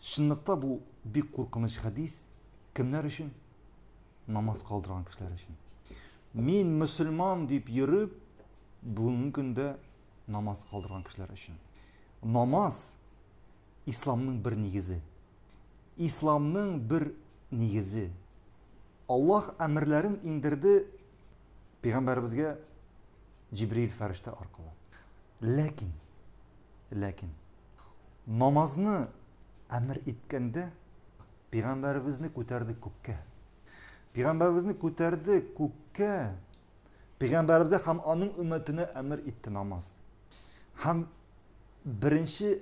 Чынлыкта бу бик куркыныч хәдис кемнәр өчен? Намаз калдырган кешеләр өчен. Мин мөселман дип йөреп, бүгенге көндә намаз калдырган кешеләр өчен. Намаз исламның бер нигезе. Исламның бер нигезе. Аллаһ әмерләрен иңдерде пәйгамбәребезгә җибриил фәрештә аркылы ләкин ләкин намазны әмер иткәндә пәйгамбәребезне күтәрде күккә пәйгамбәребезне күтәрде күккә пәйгамбәребезгә һәм аның өммәтенә әмер итте намаз һәм беренче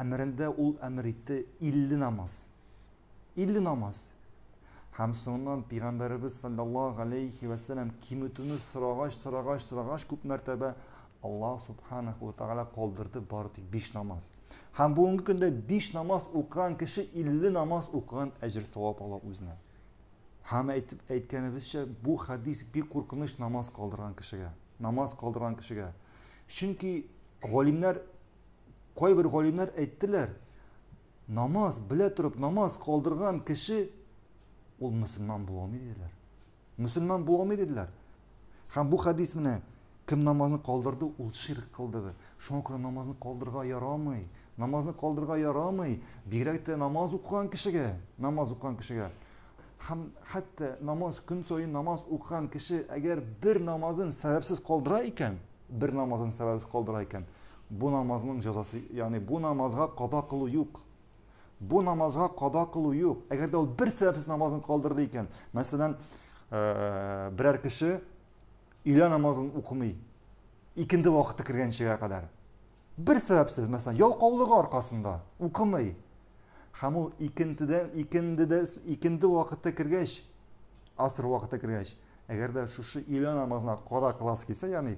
әмерендә ул әмер итте илле намаз 50 намаз. Һәм соңыннан Пәйгамбәребез саллаллаһу алейхи вә сәлләм киметүне сорагач, сорагач, сорагач күп мәртәбә Аллаһ субханаху ва тагала калдырды бары тик 5 намаз. Һәм бүгенге көндә 5 намаз укыган кеше 50 намаз укыган әҗер савап ала үзенә. Һәм әйтеп әйткәнебезчә, бу хадис бик куркыныч намаз калдырган кешегә. Намаз калдырган кешегә. Чөнки галимнәр кайбер галимнәр әйттеләр, Намаз, белә торып намаз калдырган кеше ул мөселман була алмый диделәр. Мөселман була алмый диделәр. Һәм бу хәдис менә кем намазны калдырды, ул ширк кылды. Шуңа күрә намазны калдырырга ярамый. Намазны калдырырга ярамый. Бигрәк тә намаз укыган кешегә, намаз укыган кешегә. Һәм хәтта намаз көн саен намаз укыган кеше әгәр бер намазын сәбәпсез калдыра икән, бер намазын сәбәпсез калдыра икән, Бу намазның җәзасы, ягъни бу намазга када кылу юк. Бу намазга када кылу юк. Әгәр дә ул бер сәбәпсез намазын калдырды икән, мәсәлән, берәр кеше өйлә намазын укымый, икенде вакыты кергәнчегә кадәр. Бер сәбәпсез, мәсәлән, ялкаулыгы аркасында укымый. Һәм ул икендедән икендедә икенде вакыты кергәч, аср вакыты кергәч, әгәр дә шушы өйлә намазына када кыласы килсә, ягъни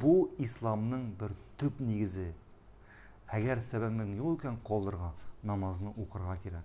Бу исламның бер төп нигезе. Әгәр сәбәбең юк икән калырга, намазны укырга кирәк.